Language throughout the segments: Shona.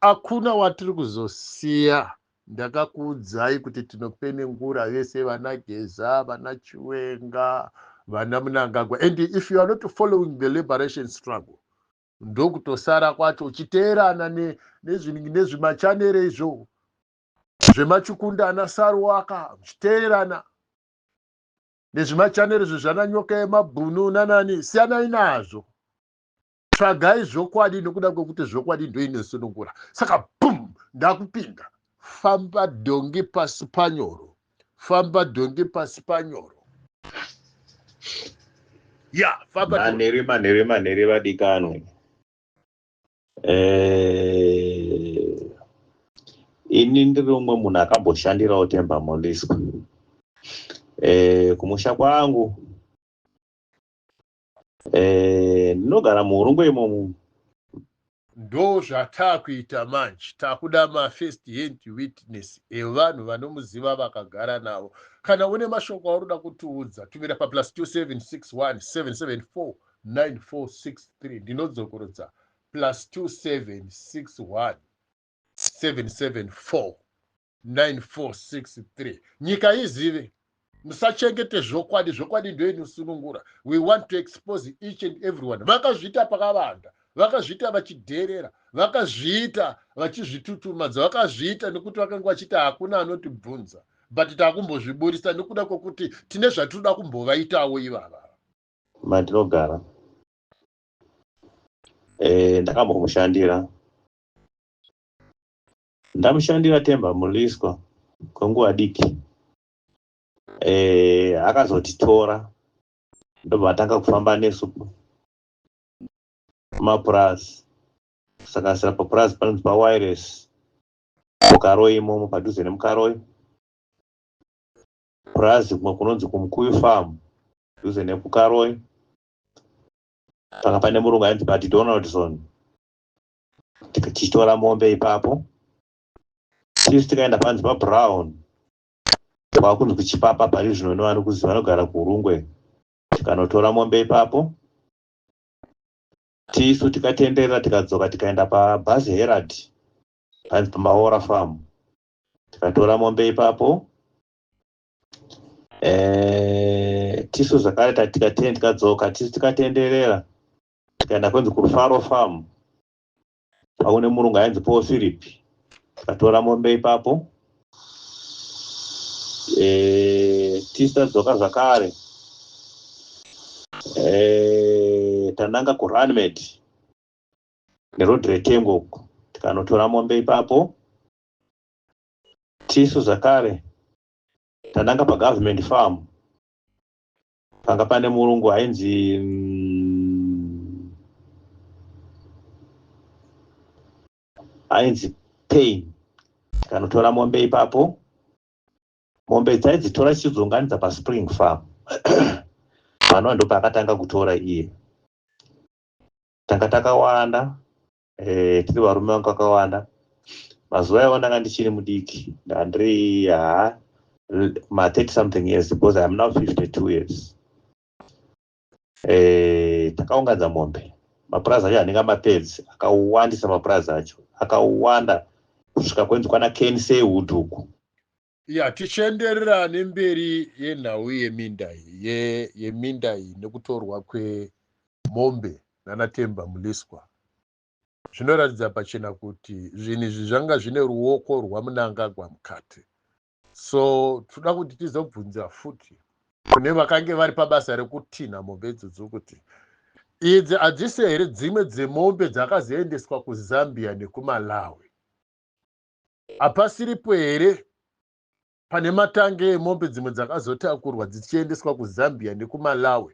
akuna watiri kuzosiya ndakakuudzai kuti tinopenengura vese vana geza vana chiwenga vana munangagwa and if you are not following the liberation struggle ndokutosara kwacho uchiteerana nezvimachanere izvo zvemachukunda ana saruwaka uchiteerana nezvimachanere zvezvananyoka yemabhunu nanani siyanai nazvo tsvagai zvokwadi nokuda kwekuti zvokwadi ndoinosunungura saka bum ndakupinda famba dhongi pasi panyoro famba dhongi pasi panyoro ya famba manhere manhere manhere vadikanwe eh, ini ndiri umwe munhu akamboshandirawo temba moliswa eh, kumusha kwangu Eh, ndinogara muhurungu imomo ndo zvataakuita manje takuda mafirst hand witness evanhu vanomuziva vakagara navo kana une mashoko aunoda kutiudza tumira paplus 27617749463 ndinodzokorodza plus 2761774 9463 nyika izive musachengete zvokwadi zvokwadi ndo inosunungura we want to expose each and everyone vakazviita pakavanda vakazviita vachidherera vakazviita vachizvitutumadza vakazviita nekuti vakange vachiti hakuna anotibvunza but takumbozviburisa nekuda kwekuti tine zvatinoda kumbovaitawo ivava mandinogara e, ndakambomushandira Ndamushandira Themba Mliswa kwenguva diki eh, akazotitora ndobva atanga kufamba nesu kumapurazi kusanganisira papurazi panonzi pawires mukaroi imomo padhuze nemukaroi purazi kumwe kunonzi kumukuyu farm dhuze nekukaroi panga pane murungu ainzi bati donaldson tichitora mombe ipapo tisu tikaenda panzi pabrown kwakunzi kuchipapa pari zvino nevanokuziva vanogara kuurungwe tikanotora mombe ipapo tisu tikatenderera tikadzoka tikaenda pabhazi herald panzi pamaora farm tikatora mombe ipapo Eh, tisu zvakare tikatendikadzoka tisu tikatenderera tikaenda kwenzi kufaro farm paune murungu ainzi paul philip tikatora mombe ipapo e, tisadzoka zvakare e, tananga kurunmed neroad retengo uku tikanotora mombe ipapo tisu zvakare tananga pagovernment farm panga pane murungu hainzi hainzi mm, pain tikanotora mombe ipapo mombe dzaidzitora chichidzunganidza paspring farm panova ndopaakatanga kutora iye tanga takawanda eh, tiri varume vangu kakawanda mazuva iwayo ndanga ndichiri mudiki ndandiri haa ma30 something years because iam now 52 years eh, takaunganza mombe mapurazi acho anenge amapedzi akawandisa mapurazi acho akawanda kusvika kwenzi kwana knsay wood uku Ya tichienderera nemberi yenhau yeminda ye, yeminda iyi nekutorwa kwemombe nana Temba Muliswa zvinoratidza pachena kuti zvinhu izvi zvanga zvine ruoko rwaMunangagwa mukati so tinoda kuti tizobvunza futi kune vakange vari pabasa rekutinha mombe idzodzo kuti idzi hadzisi here dzimwe dzemombe dzakazoendeswa kuzambia nekumalawi Hapasiripo here pane matangi emombe dzimwe dzakazotakurwa dzichiendeswa kuZambia nekuMalawi?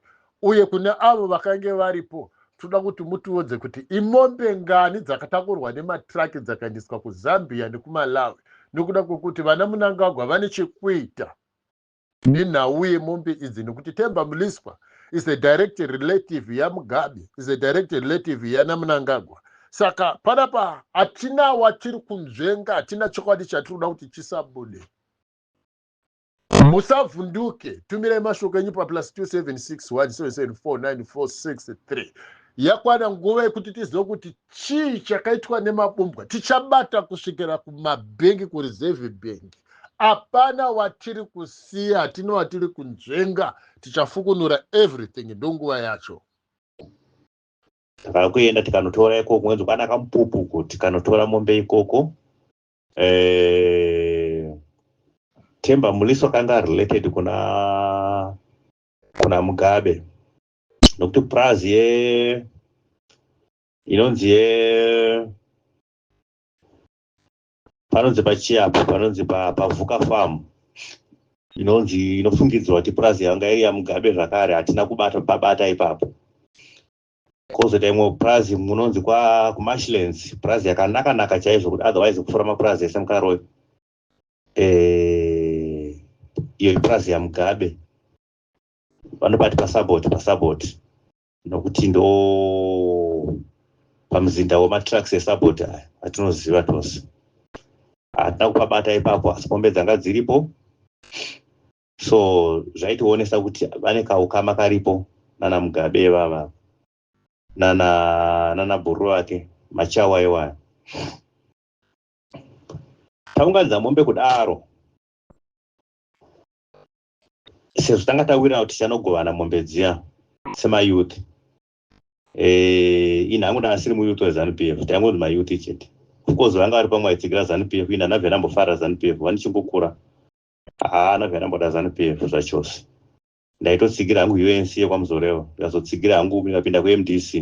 Uye kune avo vakange varipo, toda kuti mutiudze kuti imombe ngani dzakatakurwa nematiraki dzakaendeswa kuZambia nekuMalawi nekuda kwekuti vana Munangagwa vane chekuita nenhau yemombe idzi nekuti Themba Mliswa is a direct relative yaMugabe, is a direct relative yanaMnangagwa. Saka panapa hatina watiri kunzvenga, hatina chokwadi chatiri kuda kuti chisabude. Musavhunduke, tumirai mashoko enyu paplus 2761774946 yakwana nguva yekuti tizive kuti chii chakaitwa nemabumbwa tichabata kusvikira kumabhengi kureserve bhengi apana watiri kusiya hatina watiri kunzvenga tichafukunura everything ndonguva yacho takakuenda tikanotora ikoko ngenzi kwana kamupupuko tikanotora mombe ikoko eh, temba muliso kanga related kuna kuna mugabe nokuti purazi ye inonzi ye panonzi pachiapo panonzi pavuka farm inonzi inofungidzirwa kuti purazi yanga iri yamugabe zvakare hatina kubata babata ipapo kozoita imwe purazi munonzi kumashlands purazi yakanaka naka chaizvo kuti otherwise kupfuura mapurazi ese mukaroyo eh, iyo ipurazi yamugabe vanobati pasaboti pasaboti nokuti ndo pamuzinda wematraks esabot aya atinoziva tose hatina kupabata ipapo asi pombe dzanga dziripo so zvaitionesa kuti vane kaukama karipo nana mugabe vava nana nana bhuru vake machawa iwaya taunganidza mombe kudaro sezvo tanga tawirana kuti tichanogovana mombe dziya semayouth eh, ini hangu ndanga siri muyouth wezanupf taingonzi mayouth chete ofcourse vanga vari pamwe vaitsigira zanupf ini hana vhera mbofara zanupf vanichingokura haana vhera mboda zanupf zvachose ndaitotsigira hangu unc yekwamuzorevo ndikazotsigira hangu ikapinda kumdc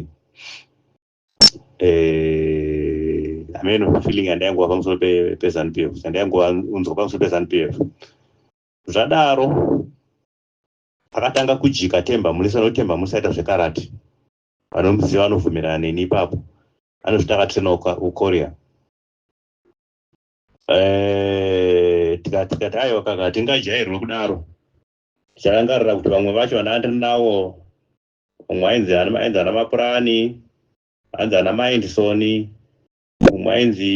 eh, ameno feeling yandaingova pamusoro pezanup f yandaingova unzwa pamusoro pezanup f Zvadaro akatanga kujika Temba Mulisa nokuti Temba Mulisa aita zvekarati. Vanomuziva vanobvumirana neni ipapo. Anozviti akatrena ukoria. Eh, tikati tikati aiwa kaka tingajairwe kudaro. Ticharangarira kuti vamwe vacho vandandiri nawo umwe ainzi ainzi ana mapurani ainzi ana maendisoni umwe ainzi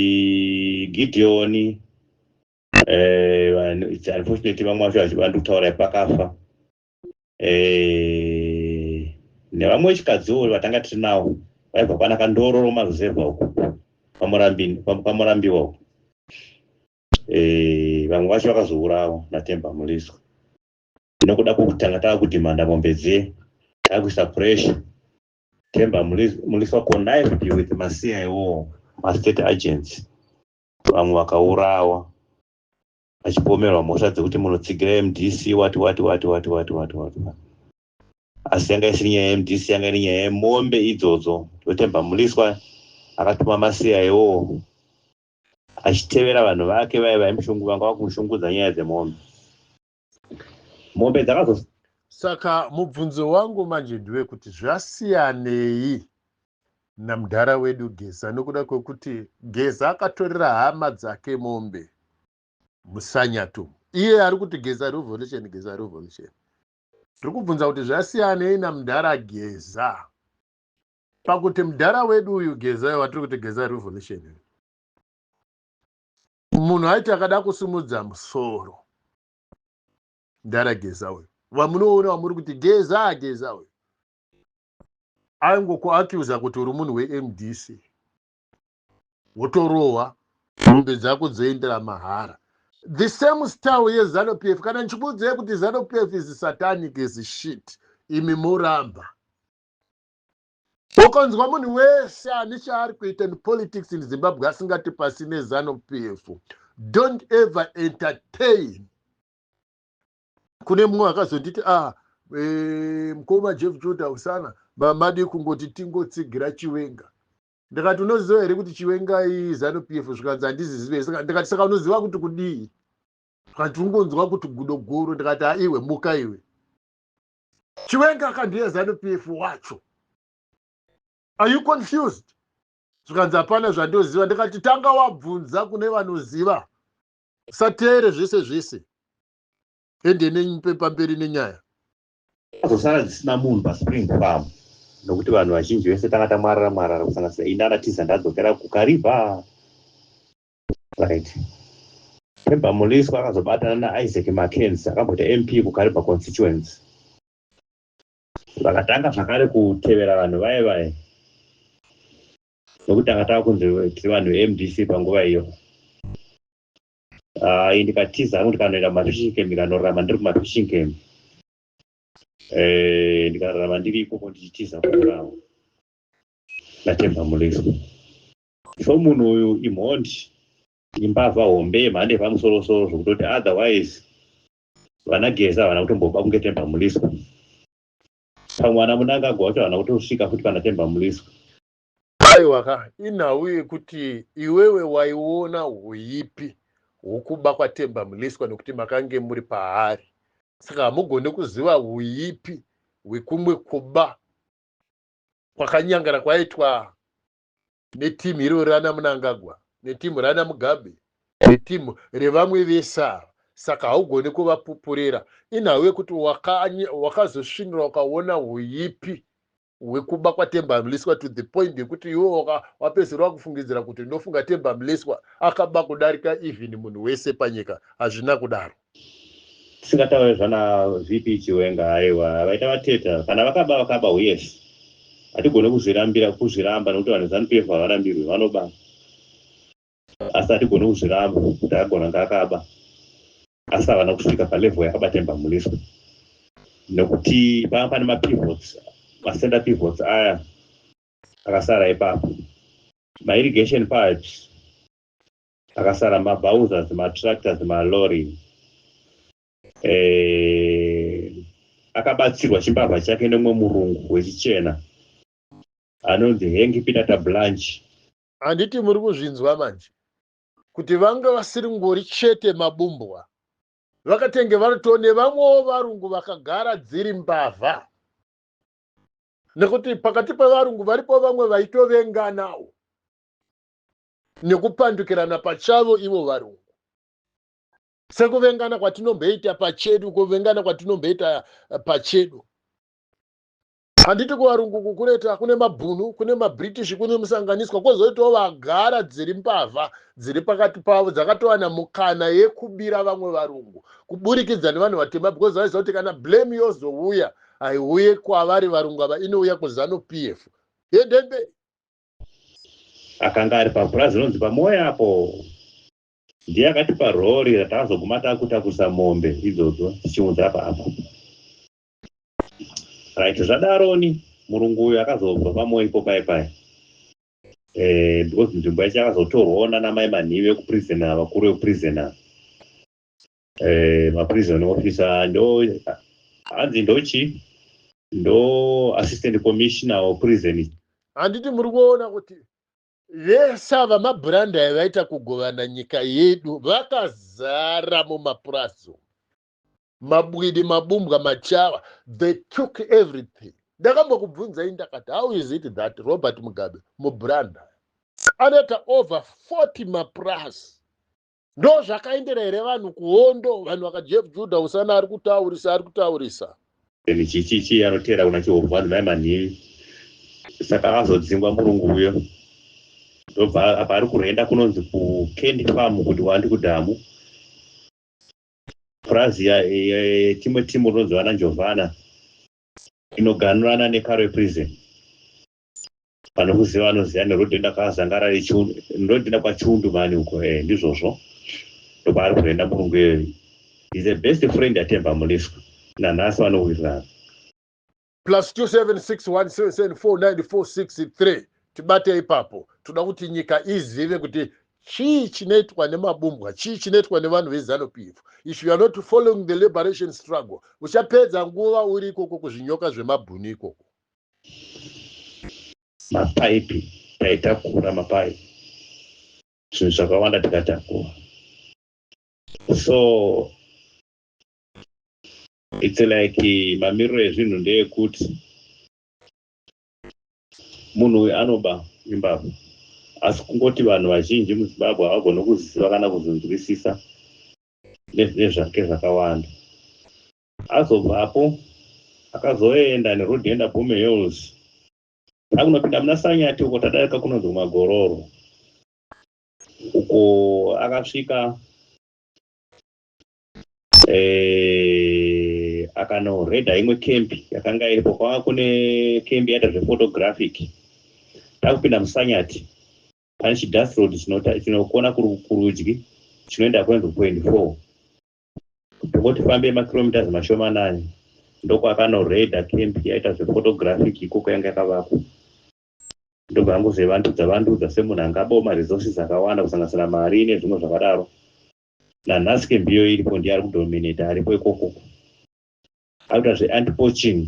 gideoni eh, unfortunately vamwe vacho vachiva ndikutaura pakafa eh, nevamwe vechikadziwo vatanga tiri nawo vaibva kwana kandororo maruzevha uko kwamurambiwa uko eh, vamwe vacho vakazourawa natemba muliswa nokuda kwokutanga tava kudhimanda mombe dziye tava kuisa pressure temba muliswa connive with masiya iwowo mastate agents vamwe vakaurawa vachipomerwa mhosva dzekuti munotsigira mdc wati wati wati wati wati wati wati asi yanga isiri nyaya yemdc yanga iri nyaya yemombe idzodzo ndotemba muliswa akatuma masiya iwowo achitevera vanhu vake vaiva imushungu vanga vakumushungudza nyaya dzemombe mombe dzakazo saka mubvunzo wangu manje ndiwe kuti zvasiyanei namudhara wedu geza nokuda kwekuti geza akatorera hama dzake mombe musanyato iye ari kuti geza revolution geza revolution tiri kubvunza kuti zvasiyanei namudhara geza pakuti mudhara wedu uyu geza watiri kuti geza revolution munhu aiti akada kusimudza musoro ndarageza uyu vamunoona vamuri kuti geza ageza uyu aingokuacuza kuti uri munhu wemdc wotorohwa mombe dzako dzoendera mahara the same style yezanu p f kana ndichikuudzai kuti zanu p f is satanic is shit imi moramba Ukanzwa munhu wese ane chaari kuita in politics in Zimbabwe asingati pasi nezano PF, don't ever entertain. Kune mumwe akazonditi ah eh, mkoma Jeff Judah usana mamadi kungoti tingotsigira chiwenga ndikati unoziva here kuti chiwenga izano PF zvikanzi handizizive ndikati saka unoziva kuti kudii zvikanzi ungonzwa kuti gudo guru ndikati aiwe muka iwe chiwenga aka ndiye zanu pf wacho are you confused zvikanzi hapana zvandoziva ndikati tanga wabvunza kune vanoziva usateere zvese zvese hende nepamberi nenyaya azosara dzisina munhu paspring farm nokuti vanhu vazhinji vese tanga tamwarara mwarara kusanganisira ini anatiza ndadzokera kukariva Right. Remember Muliswa akazobatana naIsaac Mackenzie akambota MP kuKariba constituency. Vakatanga zvakare kutevera vanhu vaye vaye nokuti anga tava kunzi tiri vanhu veMDC panguva iyo. Uh, ndikatiza hangu ndikanoenda kumafishing camp ndikanorarama ndiri kumafishing camp eh, ndikararama ndiri ikoko ndichitiza kurarama naTemba Muliswa. so munhu uyu imhondi imbavha hombe yemhando yepamusorosoro zvokutoti otherwise vana geza havana kutomboba kunge temba muliswa pamwe vana munangagwa vacho havana kutosvika futi pana temba muliswa aiwaka inhau yekuti iwewe waiona huipi hwokuba kwatemba muliswa nekuti makange muri paari saka hamugone kuziva huipi hwekumwe kuba kwakanyangara kwaitwa neteam iro rana munangagwa neteam rana mugabe neteam revamwe vese ava saka haugone kuvapupurira inhau yekuti wakazosvinira waka ukaona huipi hwekuba kwatemba mliswa to the point yekuti iwe wapedzisira wakufungidzira kuti ndofunga temba mliswa akaba kudarika even munhu wese panyika hazvina kudaro tisingataure zvana vp chiwenga aiwa vaita vateta kana vakaba vakaba huyes hatigone kuzvirambira kuzviramba nekuti vanhu zanu pf havarambirwi vanoba asi hatigone kuzviramba kuti agona ngaakaba asi havana kusvika palevel yakabatemba muniswa nekuti panga pane mapivots macenter pivots aya akasara ipapo mairrigation pipes Pakasara mabhauzas, matractors, malorry. Eh, akabatsirwa chimbavha chake nemumwe murungu wechichena anonzi Hengi Pidata Blanche. Handiti muri kuzvinzwa manje kuti vanga vasiri ngori chete mabumbwa vakatenge varito nevamwewo varungu vakagara dziri mbavha nekuti pakati pevarungu varipo vamwe vaitovenganawo nekupandukirana pachavo ivo varungu sekuvengana kwatinomboita pachedu kuvengana kwatinomboita eh, pachedu handiti kuvarungu kukureta kune mabhunu kune mabritish kune musanganiswa kwozoitawo vagara dziri mbavha dziri pakati pavo dzakatowana mukana yekubira vamwe varungu kuburikidza nevanhu vatema because vaiziva kuti kana blame yozouya haiuye kwavari varungu ava inouya kuzanu p f yendemberi akanga ari papurazi rinonzi pamoya apo ndiye akatipa rori ratazoguma takutakusa mombe idzodzo tichiunza paapa right zvadaroni murungu uyu akazobva pamoya ipo pai pai eh, because nzvimbo yacho yakazotorwawo nanamai manhivi ekuprison ava kuri ekuprison ava eh, maprison officer ndo hanzi ndochi ndo assistant commissioner of prison handiti muri kuona kuti vese ava mabhurandi aya vaita kugovana nyika yedu vakazara mumapurazi mabwidi mabumbwa machawa they took everything ndakambokubvunzai ndakati how is it that robert mugabe mubhurandi anoita over 40 mapurazi ndo zvakaendera here vanhu kuhondo vanhu vakajevjuda usana ari kutaurisa ari kutaurisa Then chichichi anotera kuna Chihovhani mai manhingi. Saka akazodzingwa murungu uyo. Ndobva apa ari kurenda kunonzi kuCandy Farm kuti wandi kudhamu. Purazi ya- ya- ya- timwe timu rinonzi vana Njovana inoganurana neKarwe Prison. vanokuziva vanoziva ndotoenda kwazangara rechiundu ndotoenda kwachiundu mani uko e eh, ndizvozvo ndokwaari kuenda murungu iyoyo is the best friend yatemba muliswa nanhasi vanowirirana plus 2761774946 tibate ipapo toda kuti nyika izive kuti chii chinoitwa nemabumbwa chii chinoitwa nevanhu vezanu pf if you are not following the liberation struggle uchapedza nguva uri ikoko kuzvinyoka zvemabhuni ikoko mapaipi taitakura mapaipi zvinhu zvakawanda tikatakura so its like mamiriro ezvinhu ndeyekuti munhu uyu anoba imbabvu asi kungoti vanhu vazhinji muzimbabwe havagone kuziva kana kuzonzwisisa nezvake zvakawanda Azobvapo akazoenda neroad inoenda Bome Hills akunopinda muna Sanyati uko tadarika kunonzi Magororo uko akasvika eh, akanoreda imwe kempi yakanga iripo kwanga kune kempi yaita zvephotographic takupinda musanyati pane chidust road chinokona kurudyi chinoenda kuenzo point four Ndokotifambei makilometers mashomanani ndokwakanoredha camp yaita zvephotographic ikoko yanga yakavakwa ndobva angozevandudza vandudza semunhu anga aboma resources akawanda kusanganisira mari nezvimwe zvakadaro nanhasi camp iyoyo iripo ndiye ari kudominata aripo ikoko akuita zveantipoching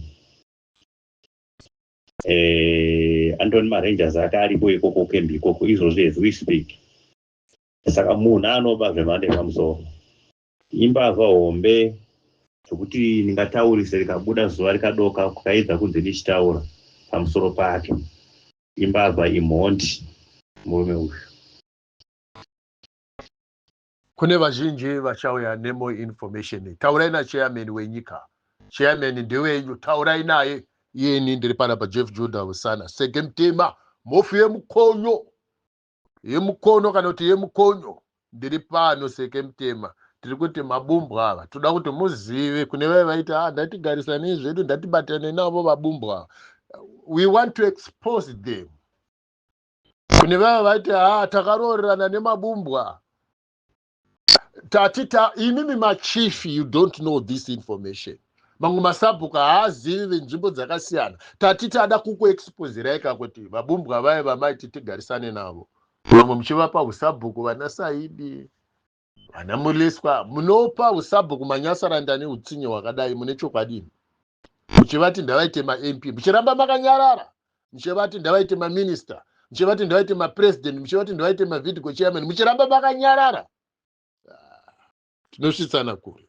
eh, andoni marangers ake aripo ikoko camp ikoko izvozvi as we speak saka munhu anoba zvemhando yepamusoro imbavha hombe zvekuti ndingataurise rikabuda zuva rikadoka kukaidza kunze ndichitaura pamusoro pake imbavha imhondi murume uyu kune vazhinji vachauya nemo information taurai nachairman wenyika chairman ndewenyu taurai naye iyeni ndiri pana pajeff juda usana sege mutema mhofu yemukonyo yemukono kana kuti yemukonyo ndiri pano seke mutema tiri kuti mabumbwa ava toda kuti muzive kune vave vaiti a ah, ndatigarisanei zvedu ndatibatane navo vabumbwa ava we want to expose them kune vave vaiti a ah, takaroorerana nemabumbwa tati ta imimi machief you don't know this information mamwe masabhuku haazivi venzvimbo dzakasiyana tati tada kukuexpozirai ka kuti vabumbwa vaye vamaiti tigarisane navo vamwe muchivapa usabhuku vana saidi vana muleswa munopa usabhuku manyasaranda neutsinye hwakadai mune chokwadini muchivati ndavaite mamp muchiramba makanyarara muchivati ndavaite maminista muchivati ndavaite mapresident muchivati ndavaite mavidco chairman muchiramba makanyarara ah, tinosvitsana kure